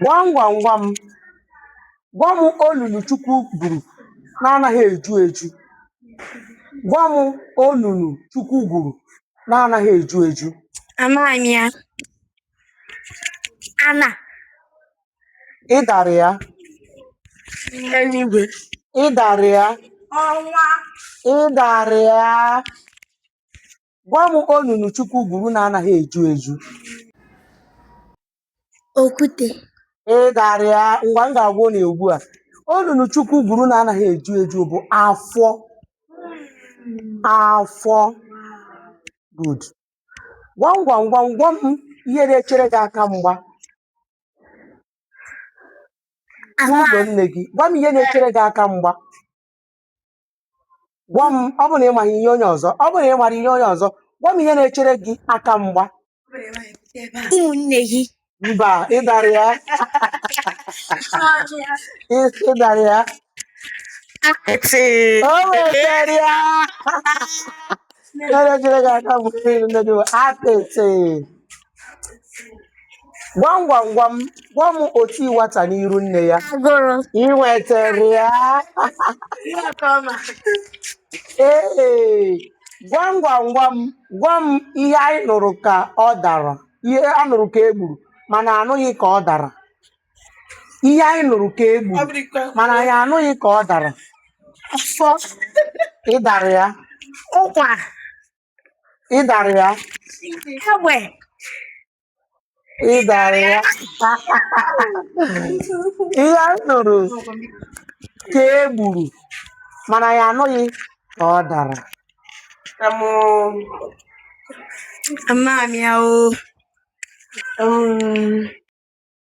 Gwam gwam gwam, gwa m onunu Chukwu gwuru na-anaghị eju eju. Gwa m onunu Chukwu gwuru na-anaghị eju eju. Amaghị m ya. Ana. Ị dara ya, Eluigwe. ị dara ya, Ọnwa. ị dara ya. Gwa m onunu Chukwu gwuru na-anaghị eju eju. Okwute. Ị dara ya ngwa m ga-agwa unu ya ugbu a. Onunu Chukwu gwuru na-anaghị eju eju bụ afọ. Afọ. Good. Gwam gwam gwam gwa m ihe na-echere gị aka mgba n'azụ ụlọ nne gị. Gwa m ihe na-echere gị aka mgba. gwa m ọ bụ na ị maghị ihe onye ọzọ ọ bụ na ị mara ihe onye ọzọ gwa m ihe na-echere gị aka mgba n'ụlọ nne gị mba ị dara ya ị- ị dara ya akpịtị o nwetara ya ihe na-echere gị aka mgba nne gị akpịtị gwam gwam gwam gwa m oti nwata n'iru nne ya agụrụ ị nwetara ya ihe ka ọ ma ee gwam gwam gwam gwa m ihe anyị nụrụ ka ọ dara ihe a nụrụ ka e gburu mana anụghị ka ọ dara ihe anyị nụrụ ka e gburu bụrụ ikpe mana anyị anụghị ka ọ dara afọ ị dara ya ụkwa ị dara ya ị dara ya ihe a nụrụ ka e gburu mana ya anụghị ka ọ dara Ama m ya o. Um,